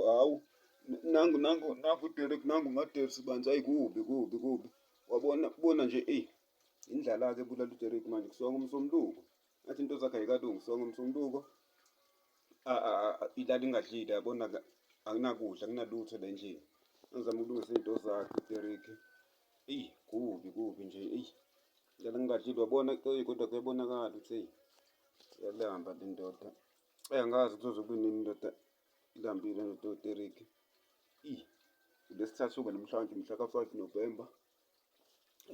Hawu nangu nangu nangu Derek nangu uMadev sibanzi ayi kubi kubi kubi wabona bona nje eyi indlala-ke bulala uDerek manje kusonga umsombuluko ngathi into zakhe ayikalungi songa umsombuluko ilala ingadlile yabona anginakudla anginalutho la endlini angizama ukulungisa izinto zakhe uDerek eyi kubi kubi nje eyi ilala ngingadlile wabona kodwa kuyabonakala ukuthi eyi yalamba le ndoda Eyi angazi kuzoze kube nini ndoda ilambile ndoda otereki. Eyi lesithathu uba namhlanje mhla ka-five November.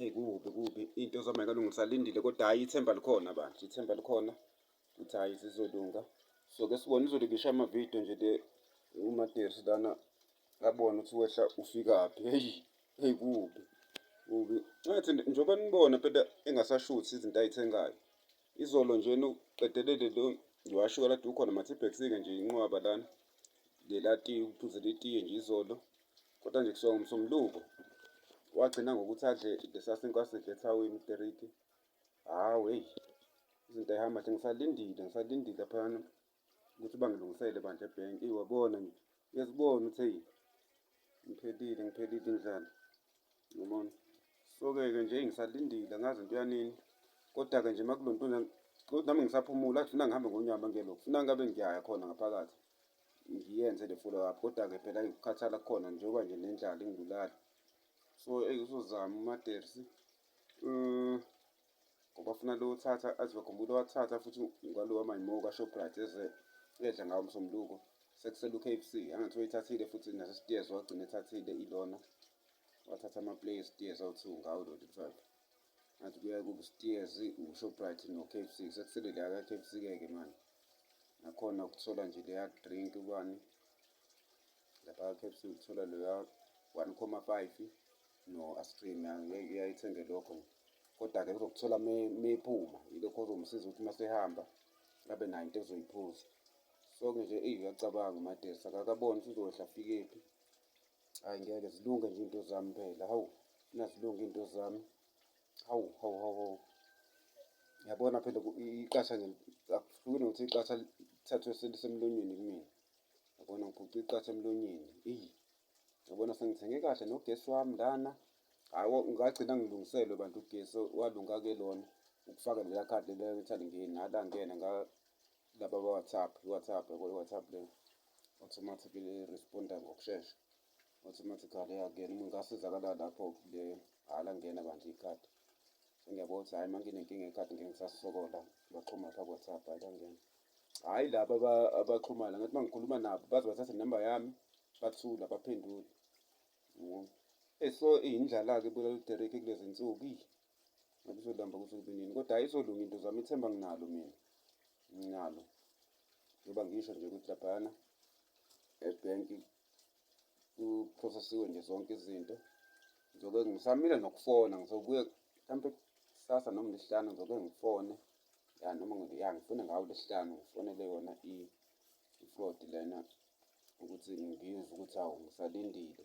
Eyi kubi kubi into zama ikalungisa lindile kodwa hhayi ithemba likhona bandla ithemba likhona ukuthi hhayi zizolunga. So ke sibone izolo ngisho amavidiyo nje le umaterisi lana abone ukuthi wehla ufikaphi heyi heyi kubi kubi ngathi njengoba nibona phela engasashuthi izinto ayithengayo Izolo nje uqedelele lo ngiwasho kade ukhona mathibhekisike nje inqwaba lana lelati ukuphuzela itiye nje izolo kodwa nje kusuka ngomsombuluko wagcina ngokuthi adle lesasinkwa sidle ethawini iteriki hawu heyi izinto ayihamba nje ngisalindile ngisalindile phana ukuthi bangilungisele bandla ebhenki iwabona nje uyazibona ukuthi eyi ngiphelile ngiphelile indlala yabona so-ke-ke nje ngisalindile angazi into yanini kodwa-ke nje makulo nto kodwa nami ngisaphumula athi funa ngihambe ngonyama ngelo funa ngabe ngiyaya khona ngaphakathi ngiyenze le follow up kodwa-ke phela ngikukhathala kukhona njengoba nje nendlala ingibulala so eyi uzozama umatersi um mm, ngoba afuna lo othatha azive khumbula wathatha futhi ngalo wamayimoka shoprite eze edla ngawo msombuluko sekusele u-k f c angathi wayithathile futhi nasesitiyeza wagcina ethathile ilona wathatha amaplay esitiyeza awu-two ngawo lo twelve ngathi kuya kusitiyezi ushoprite no-k f c sekusele leya ka-k f c keke manje nakhona ukuthola nje leya drink ubani lapha ka-k f c ukuthola leya one comma five No, asicimi angeke uyayithenge lokho. Kodwa-ke uzokuthola meyiphuma yilokho ozomsiza ukuthi masehamba abe nayo into ezoyiphuza. So ke nje eyi uyacabanga uMadesi akakaboni ukuthi uzohla afikephi. Hhayi ngeke zilunge nje iy'nto zami phela hawu funa zilunge iy'nto zami hawu hawu hawu hawu. Yabona phela iqasha nje akuhlukile nokuthi iqasha lithathwe selisemlonyeni kumina. Yabona ngiphucwe iqatha emlonyeni eyi. Yabona sengithenge kahle nogesi wami lana. Hayi ngagcina ngilungiselwe bantu ugesi walunga ke lona ukufaka leya khadi leya ngithanda ngene nala ngene nga laba ba WhatsApp, WhatsApp yabo WhatsApp le automatically responder ngokushesha. Automatically yangena uma ngasizakala lapho le hala ngena bandla ikhadi. Ngiyabona ukuthi hayi manginenkinga ekhadi ngeke ngisasokola baxhuma pha WhatsApp hayi bangena. hhayi laba abaxhumana ngathi uma ngikhuluma nabo baze bathathe inamba yami bathula baphendule eso iyindlala-ke bulala uderek kulezi nsuku iyi ngabe uzolamba kuze kube nini kodwa hhayi izolunga into zami ithemba nginalo mina nginalo njengoba ngisho nje ukuthi laphayana ebhenki kuprosesiwe nje zonke izinto ngizoke ngisamile nokufona ngizobuye mhlawumpe kusasa noma lesihlanu ngizoke ngifone ya noma ya ngifone ngawo lesihlanu ngifonele yona i-fraud lena ukuthi ngizwe ukuthi awu ngisalindile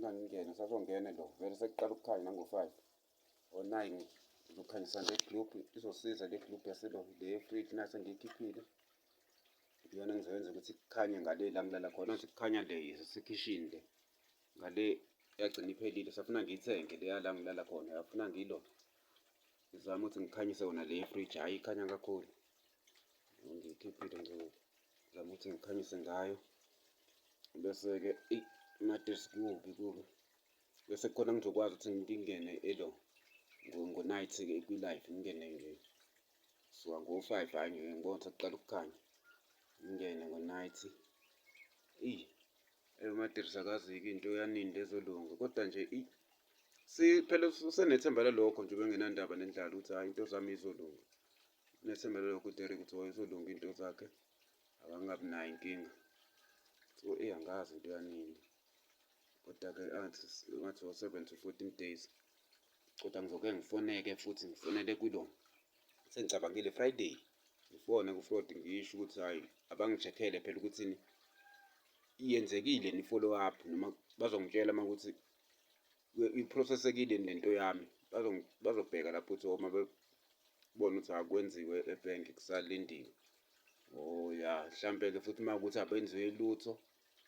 Nangingena sazongena lo vele sekuqala ukukhanya nango-five o-nine oh, ngizokhanyisa le group izosiza le group yaselo le fridge nase ngiyikhiphile iyona ngizoyenza ukuthi kukhanye ngale la ngilala khona ukuthi kukhanya le sekhishini le ngale yagcina iphelile safuna ngiyithenge leya la ngilala khona yafuna ngilo ngizama ukuthi ngikhanyise yona le fridge hhayi ikhanya kakhulu ngiyikhiphile nje ngizama ukuthi ngikhanyise ngayo bese-ke imatress kubi kubi bese khona ngizokwazi ukuthi ngingene elo ngo-night-ke kwi-live ngingene nje suka ngo-five hhayi ngeke ngibona ukuthi kuqala ukukhanya ngingene ngo-night eyi eyomatress akaziki into yaninda ezolunga kodwa nje phela usenethemba lalokho nje bengenandaba nendlala ukuthi hhayi into zami izolunga nethemba lelokhu deri ukuthi wayezolunga into zakhe akangabi nayo inkinga so eyi angazi into yanini kodwa-ke angathi ngathi wo-seven to fourteen days kodwa ngizoke ngifoneke futhi ngifonele kulo sengicabangile friday ngifone ku-fraud ngisho ukuthi hhayi abangi-check-ele phela ukuthini yenzekile ni-follow up noma bazongitshela uma ukuthi iprocessekile lento yami bazobheka lapho ukuthi uma bebona ukuthi akwenziwe ebhenki kusalindiwe oh ya mhlampe-ke futhi uma ukuthi abenziwe lutho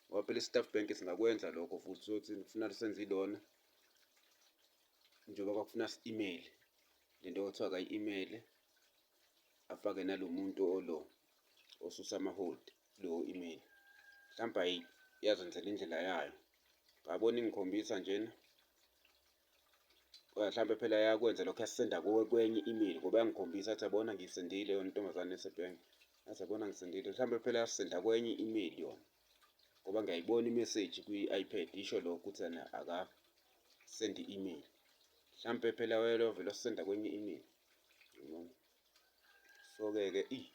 ngoba phela i-staff bank singakwenza lokho futhi sothi kufuna senze ilona njengoba kwakufuna si-email le nto kwathiwa kayi-email afake nalo muntu olo osusa amaholdi kuleyo email mhlawumbe yazenzela indlela yayo ngabona ingikhombisa njena mhlawumbe phela yakwenza lokho yasisenda kuwe kwenye email ngoba yangikhombisa athi yabona ngisendile yona intombazane esebhenki athi yabona ngisendile mhlawumbe phela yasisenda kwenye email yona ngoba ngiyayibona imeseji kwi-ipad isho lokho ukuthi yena akasendi email mhlawumbe phela wayelo vele wasisenda kwenye email so-ke ke eyi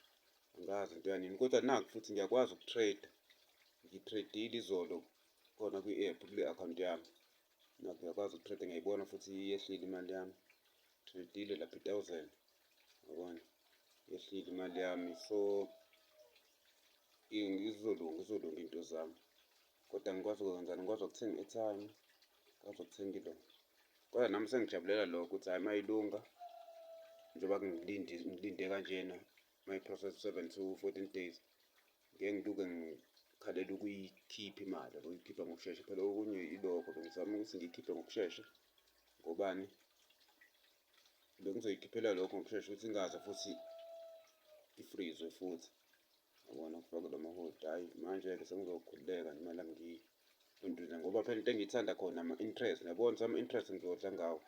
angazi into yanini kodwa naku futhi ngiyakwazi ukutrade ngitradile izolo khona kwi-app kule akhawunti yami naku ngiyakwazi ukutrade ngiyayibona futhi yehlile imali yami tradile lapha i-thousand yabona yehlile imali yami so izolunga izolunga into zami Kodwa ngikwazi ukwenzani? Ngikwazi ukuthenga i-airtime, ngikwazi ukuthenga ilona. Kodwa nami sengijabulela lokho ukuthi hhayi mayilunga njengoba ngilinde ngilinde kanjena mayi-process seven to fourteen days ngeke ngiluke ngikhalela ukuyikhipha imali or ukuyikhipha ngokushesha phela okunye ilokho bengizama ukuthi ngiyikhiphe ngokushesha ngobani bengizoyikhiphela lokho ngokushesha ukuthi ingaze futhi ifrizwe futhi. Ubona kufaka lo mahodi hhayi manje-ke sengizokhululeka noma la ngiduduza ngoba phela into engiyithanda khona ama-interest nabona ukuthi ama-interest ngizodla ngawo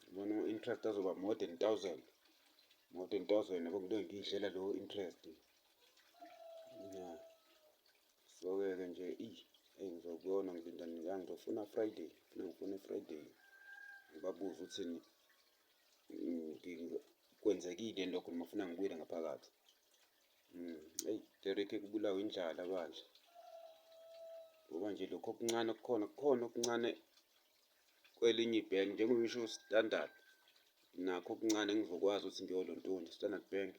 ubona ama-interest azoba more than thousand more than thousand yabo ngilo ngiyidlela lowo interest ya so-ke ke nje iyi eyi ngizokuyona ngilinda nila ngizofuna friday funa ngifune friday ngibabuze ukuthi kwenzekile lokho noma funa ngibuyele ngaphakathi eyi hmm, derekhe kubulawa indlala bandla ngoba nje lokho okuncane kukhona kukhona okuncane kwelinye ibhenki njengoba ngisho standard nakho okuncane ngizokwazi ukuthi ngiyolontunja standard bank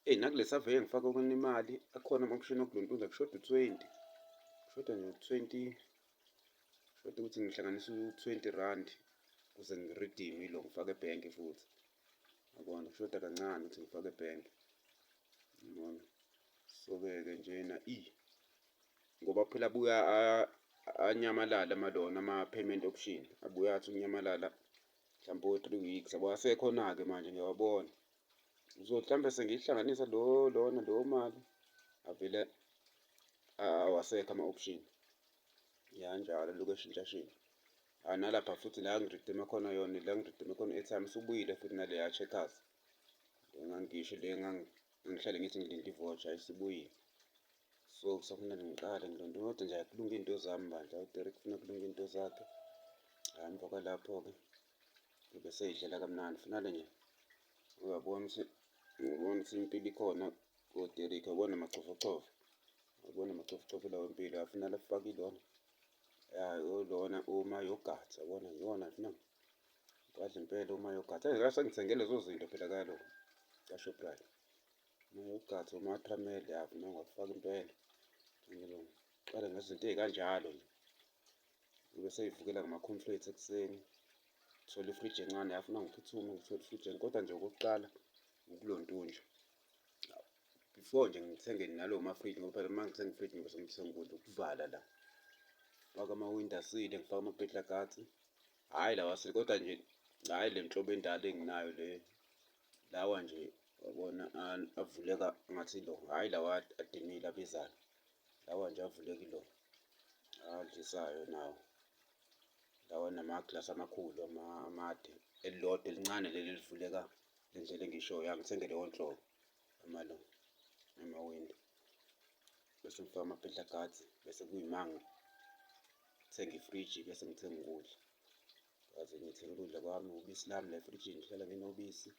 eyi nakule saveye ngifake okona imali akhona amamshini okulontunja kushoda u-twenty kushoda nje u-twenty kushoda ukuthi ngihlanganise u-twenty rand ukuze ngiridime ilo ngifake ebhenki futhi yabona kushoda kancane ukuthi ngifake ebhenge yabona so-ke-ke njena i ngoba phela abuya anyamalale amalona ama-payment option abuya athi unyamalala mhlawumpe o-three weeks yabo asekhona-ke manje ngiyawabona so mhlawumbe sengiyihlanganisa lo lona leyo mali avele awasekho ama-option yanjalo lokhu eshintshashintsha Hayi nalapha futhi la ngiridime khona yona la ngiridime khona airtime isubuyile futhi naleya checkers. Engangisho le ngihlale ngithi ngilinde ivocha isibuyile. So kusafuneka ngiqale ngilonde kodwa nje akulunga into zami bandla uDerek ufuna kulunga into zakhe. Hayi emva kwalapho ke kube seyidlela kamnandi finale nje. Uyabona ukuthi uyabona ukuthi impilo ikhona uDerek uyabona amachofochofo. Uyabona amachofochofo lawo impilo afunala afakile wona. ya lona uma yogurt yabona yona funa ngiwadla impela uma yogurt eyi ngase ngithenge lezo zinto phela kalo kashoprite uma yogurt uma tramel ya funa ngiwafaka impela ngiqale ngezinto ey'kanjalo nje ibe seyivukela ngama-conflates ekuseni thola ifriji encane yafuna ngiphuthume ngithole ifriji kodwa nje okokuqala ukulontunja before nje ngithenge nalo ma-fridge ngoba phela uma ngithenga i-fridge ngibe sengithenga ukudla ukuvala la faka amawindi asile ngifaka amabhedla kathi hhayi lawa asile kodwa nje hhayi le nhlobo endala enginayo le lawa nje wabona avuleka ngathi lo hhayi lawa adimile abizayo lawa nje avuleki lo adlisayo nawo lawa namaglasi amakhulu amade elilodwa elincane leli elivuleka le ndlela engishoyo angithenge leyo nhlobo amalo namawindi bese ngifaka ama-peter guards bese kuyimanga ngithenge ifriji bese ngithenge ukudla kaze ngithenge ukudla kwami ubisi lami la efrijini ngihlala nginobisi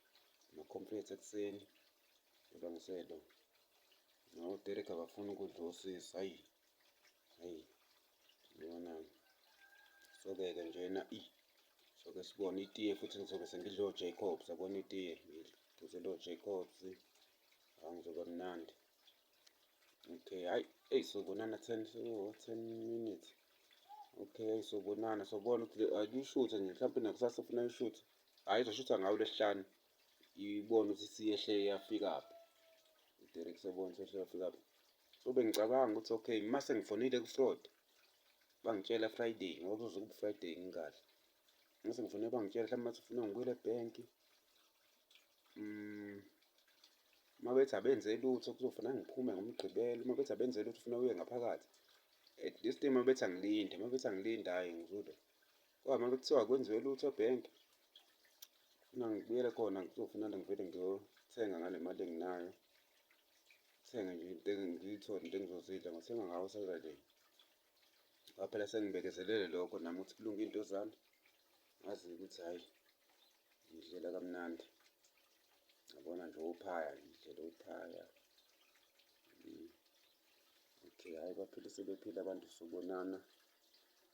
ama-complete ekuseni kodwa ngiselwa noderek abafuni ukudla osisi hayi Soke-ke njena i soke sibone itiye futhi ngizobe sengidla o-Jacobs yabona itiye ngizela o-Jacobs hawu ngizoba mnandi okay hayi eyi sobonana ten so ten minutes okay hayi sobonana sobona ukuthi ayishuthe nje mhlawumpe nakusasa funa ayishuthe hayi izoshutha ngawo lesihlanu ibone ukuthi siyehle yafikaphi uderek sobona sehle yafikaphi so bengicabanga ukuthi okay uma sengifonile ku-fraud bangitshela friday ngoba kuzobe ku-friday ngikahle uma sengifonile bangitshela mhlawumbe bathi ufuna ngibuyele ebhenki um mm, uma bethi abenze lutho kuzofuna ngiphume ngomgqibelo uma bethi abenze lutho ufuna uye ngaphakathi at this time uma bethi angilinde uma bethi angilinde hhayi ngizule kwama kuthiwa akwenziwe lutho ebhenki funa ngibuyele khona kuzofuna ngivele ngiyothenga ngale mali enginayo thenge nje into ngiyithole into engizozidla ngothenga ngawo saturday kwaphela sengibekezelele lokho nami ukuthi kulunge into zami ngazi ukuthi hhayi ngidlela kamnandi ngabona nje uphaya ngidlela uphaya okay hhayi baphile sebephila abantu sobonana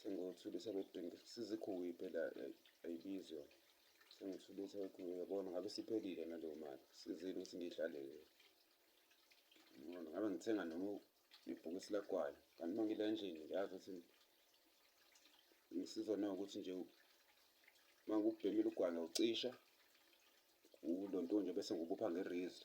sengithulisa bedinga sizikhuwe phela eh, ayibizwa sengithulisa bekhuwe yabona ngabe siphelile naleyo mali sizini ukuthi ngiyihlalele yabona ngabe ngithenga noma ibhokisi lagwala kanti uma ngila endlini ngiyazi ukuthi ngisizwa na ukuthi nje uma ngikubhemile ugwala ucisha ulo nto nje bese ngubupha ngerizi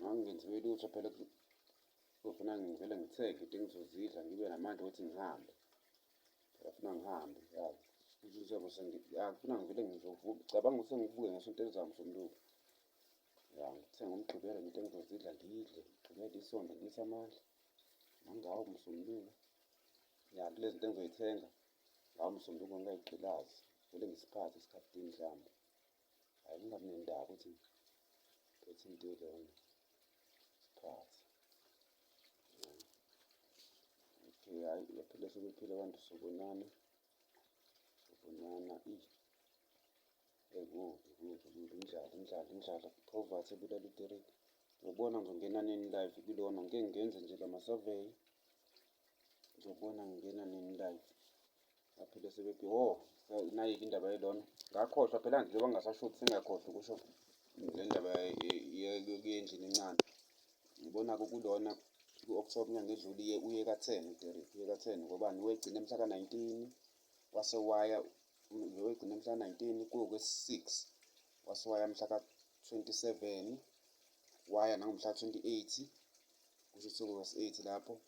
ngangingenziwe lutho phela kuzofuna ngivele ngithenge into engizozidla ngibe namandla ukuthi ngihambe phela funa ngihambe yazi njengoba sengifuna ngivele ngizovuka cabanga ukuthi sengivuke ngesonto elizama somlungu ya ngithe ngomgqibelo nento engizozidla ngidle ngigqibele isonto ngiyise amandla nangawo msombuluko ya kule zinto engizoyithenga ngawo msombuluko ngingayigqilazi vele ngisiphathe isikhathi mhlawumbe Hayi kungabi nendaba ukuthi phethe into elona sikhathi. Okay, hayi yaphela sekuphile abantu sobonana. Sobonana i Hey kubi kubi kubi indlala indlala indlala poverty ebulala itereki. Ngiyobona ngizongena nini live kulona ngike ngenze nje lama survey. Ngizobona ngingena nini live. baphinde sebethi o oh, nayike indaba yelona ngakhohlwa phela njengoba ngingasashuthi sengiyakhohlwa kusho le ndaba yendlini encane ngibona-ke kulona ku-october inyanga edlule iye uye ka-ten uderek uye ka-ten ngobani wegcina mhla ka-nineteen wase waya wegcina mhla ka-nineteen kuwukwe-six wase waya mhla ka-twenty-seven waya nangomhla ka-twenty-eight kusho ukuthi kuwukwe-eight lapho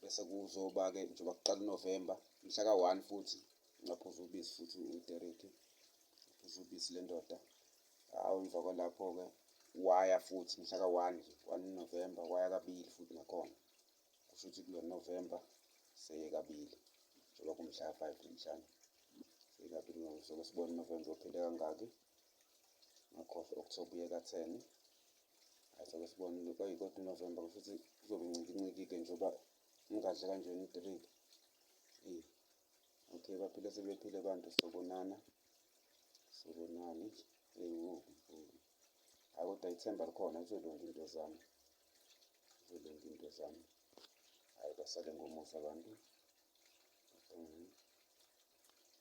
bese kuzoba-ke njengoba kuqala unovemba mhla ka-one futhi ngaphuza ubisi futhi udereki ngaphuza ubisi le ndoda awu emva kwalapho-ke waya futhi mhla ka-one nje one novemba waya kabili futhi nakhona kusho ukuthi kulo novemba seye kabili njengoba kumhla ka-five namhlanje seye kabili ngokusoke sibone unovemba ophinde kangaki ngakhohlwa okuthiwa ubuye katheni hayi soke sibonile kwayi kodwa unovemba kusho ukuthi kuzobe ncikinciki-ke njengoba ungadle kanjena i-three eyi okay baphile sebephile abantu sobonana sobonani eyi wo hayi kodwa ithemba likhona izolunga into zami izolunga into zami hhayi basale ngomusa abantu